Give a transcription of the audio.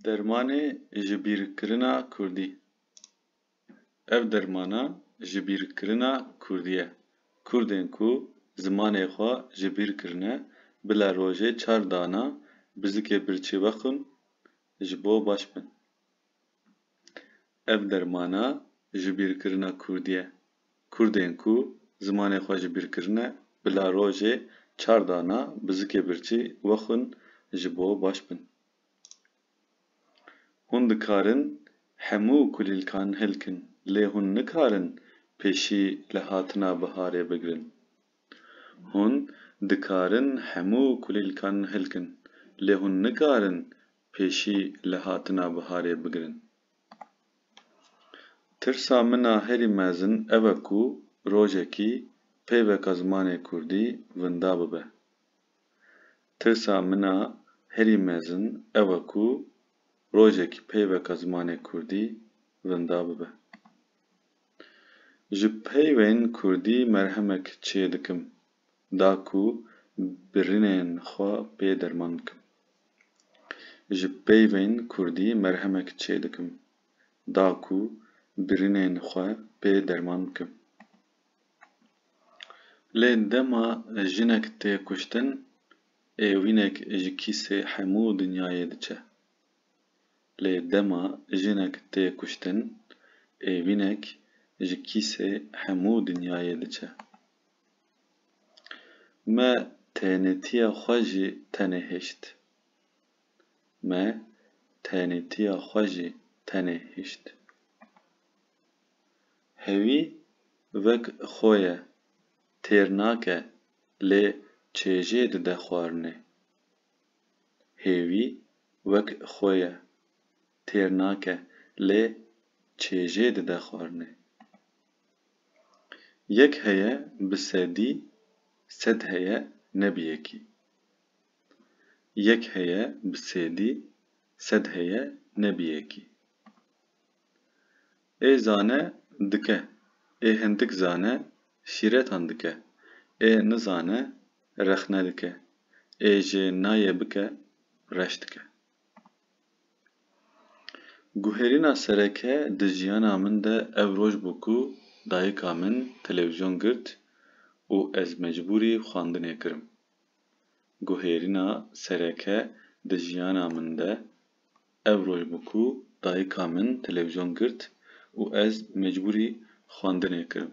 Dermanê jibîrkirina kurdî. Ev dermana jibîrkirina kurdî ye. Kurdên ku zimanê xwe jibîr kirine, bila rojê çar dana bizikê birçî vexwin ji bo baş bin. Ev dermana jibîrkirina kurdî ye. Kurdên ku zimanê xwe jibîrkirine bila rojê çar dana bi zikê birçî wexwin ji bo baş bin. Hûn dikarin hemû kulîlkan hilkin lê hûn nikarin pêşî li hatina biharê bigirin. Hûn dikarin hemû kulîlkan hilkin lê hûn nikarin pêşî li hatina biharê bigirin. Tirsa min a herî mezin ev e ku rojekî peyveka zimanê kurdî winda bibe. Tirsa min a herî mezin ew e ku rojekî peyveka zimanê kurdî winda bibe. Ji peyvên kurdî merhemek çêdikim. da ku birinên xwe pê derman bikim. Ji peyvên kurdî merhemek çê dikim da ku birinên xwe pê derman bikim. Lê dema jinek tê kuştin êwînek ji kîsê hemû dinyayê diçe. Lê dema jinek tê kuştin êwînek ji kîsê hemû dinyayê diçe. Me tenêtiya xwe jî tenê hişt. Me tenêtiya xwe jî tenê hişt. Hevî vek xwe ye, têr nake lê çêjê dide xwarinê. Hêvî wek xwe ye. têr nake lê çêjê dide xwarinê. Yek heye bi sedî sed heye ne bi yekî. Yek heye bi sêdî sed heye ne bi yekî. Ê zane dike, ê hindik zane şîretan dike, ê nizane rexne dike, ê jê nayê bike reş dike. Guherîna sereke di jiyana min de ev roj bû ku dayika min televîzyon girt û ez mecbûrî xwendinê kirim. Guherîna sereke di jiyana min de ev roj bû ku dayika min televîzyon girt û ez mecbûrî xwendinê kirim.